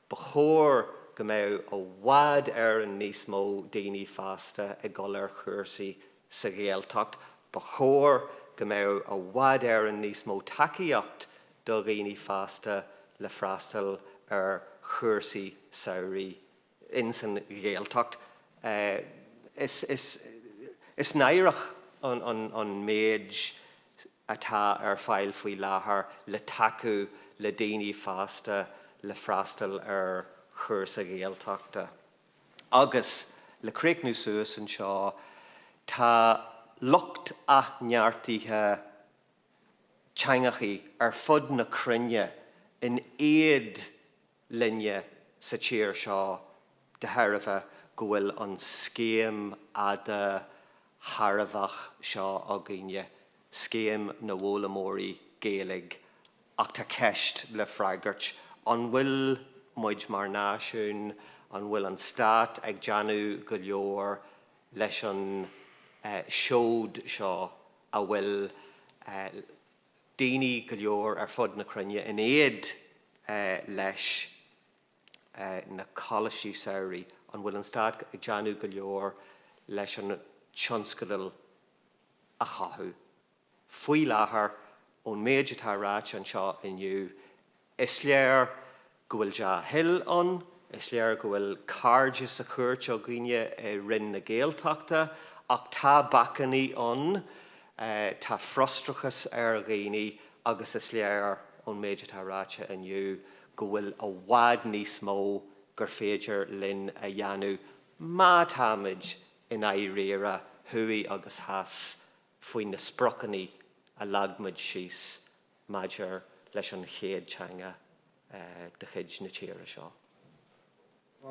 Ba chóir go mbeadh i bhfad Éireann níos mó daoine fásta ag dul ar chúrsaí sa Ghaeltacht. Ba chóir go mbeadh i bhfad Éireann níos mó tacaíocht do dhaoine fásta le freastal ar chúrsaí samhraidh ins an Ghaeltacht. Is náireach an méid. atá ar fáil faoi láthair le tacú le daoine fásta le freastal ar chúrsa Ghaeltachta. Agus le críochnú suas anseo, tá lucht athneartaithe teangachaí ar fud na cruinne in éad linne sa tír seo de thairbhe go bhfuil an scéim an-tairbheach seo againne, Scéim na bhFoghlaimeoirí Gaeilge, ach tá ceist le freagairt, an bhfuil muid mar náisiún, an bhfuil an stát ag déanamh go leor leis an seod seo a bhfuil daoine go leor ar fud na cruinne in éad leis na coláistí samhraidh, an bhfuil an stát ag déanamh go leor leis an tionscadal a chothú? Faoi láthair, ón méid atá ráite anseo inniu, Is léir go bhfuil dea-thoil ann. Is léir go bhfuil cairde sa chúirt againne i Roinn na Gaeltachta ach tá bacannaí ann. Tá frustrachas ar dhaoine agus is léir ón méid atá ráite inniu go bhfuil i bhfad níos mó gur féidir linn a dhéanamh má táimid i ndáiríre, thuaidh agus theas, faoi na spriocannaí a leag muid síos maidir leis an chéad teanga de chuid na tíre seo.